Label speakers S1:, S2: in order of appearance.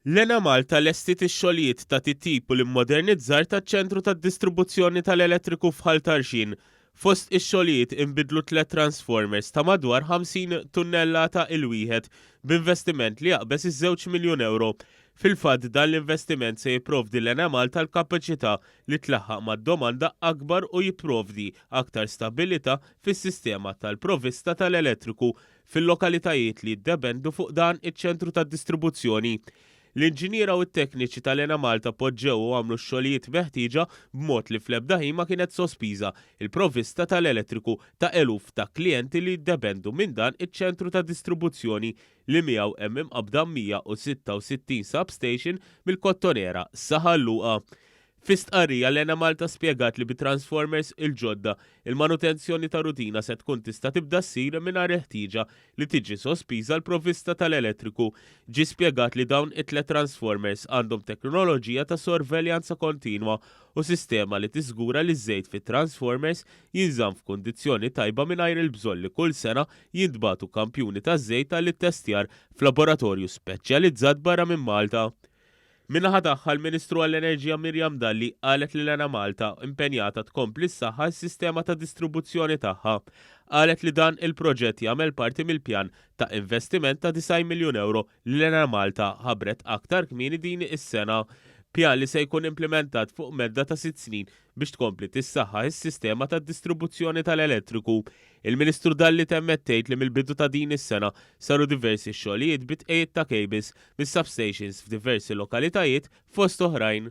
S1: L-Enemalta lestiet ix-xogħlijiet ta' titjib u l-immodernizzar taċ-ċentru tad-distribuzzjoni tal-elettriku f'Ħal Tarxien. Fost ix-xogħlijiet inbidlu tliet transformers ta' madwar 50 tunnellata il-wieħed b'investiment li jaqbeż iż-żewġ miljun ewro. Fil-fatt dan l-investiment se jipprovdi l-Enemalta l-kapaċità li tlaħħaq mad-domanda akbar u jipprovdi aktar stabbilità fis-sistema tal-provvista tal-elettriku Fil-lokalitajiet li jiddependu fuq dan iċ-ċentru tad-distribuzzjoni, l-inġiniera u t-tekniċi tal-Enemalta poġġew u għamlu x-xogħlijiet meħtieġa b'mod li fl-ebda ħin ma kienet sospiża l-provvista tal-elettriku ta' eluf ta' klijenti li jiddependu minn dan iċ-ċentru ta' distribuzzjoni li miegħu hemm imqabbda 166 substation mill-Kottonera sa Ħal Luqa Fi stqarrija, l-Enemalta spjegat li bit-transformers il-ġodda, il-manutenzjoni ta' rutina se tkun tista' tibda ssir mingħajr il-ħtieġa li tiġi sospiża l-provvista tal-elettriku. Ġie spjegat li dawn it-tliet transformers għandhom teknoloġija ta' sorveljanza kontinwa u sistema li tiżgura li ż-żejt fit-transformers jinżamm f'kundizzjoni tajba mingħajr il-bżonn li kull sena jintbagħtu kampjuni taż-żejt għall-ittestjar f'laboratorju speċjalizzat barra minn Malta. Min-naħa tagħha, l-Ministru għall-Enerġija Miriam Dalli qalet li l-Enemalta impenjata tkompli ssaħħaħ is-sistema ta' distribuzzjoni tagħha. Qalet li dan il-proġett jagħmel parti mill-pjan ta' investiment ta' 90 miljun ewro li l-Enemalta ħabbret aktar kmieni din is-sena, pjan li se jkun implimentat fuq medda ta' sitt snin. biex tkompli tissaħħaħ is-sistema tad-distribuzzjoni tal-elettriku. Il-Ministru Dalli temmet tgħid li mill-bidu ta' din is-sena saru diversi xogħlijiet bi tqegħid ta' kejbils mis-substations f'diversi lokalitajiet fost oħrajn.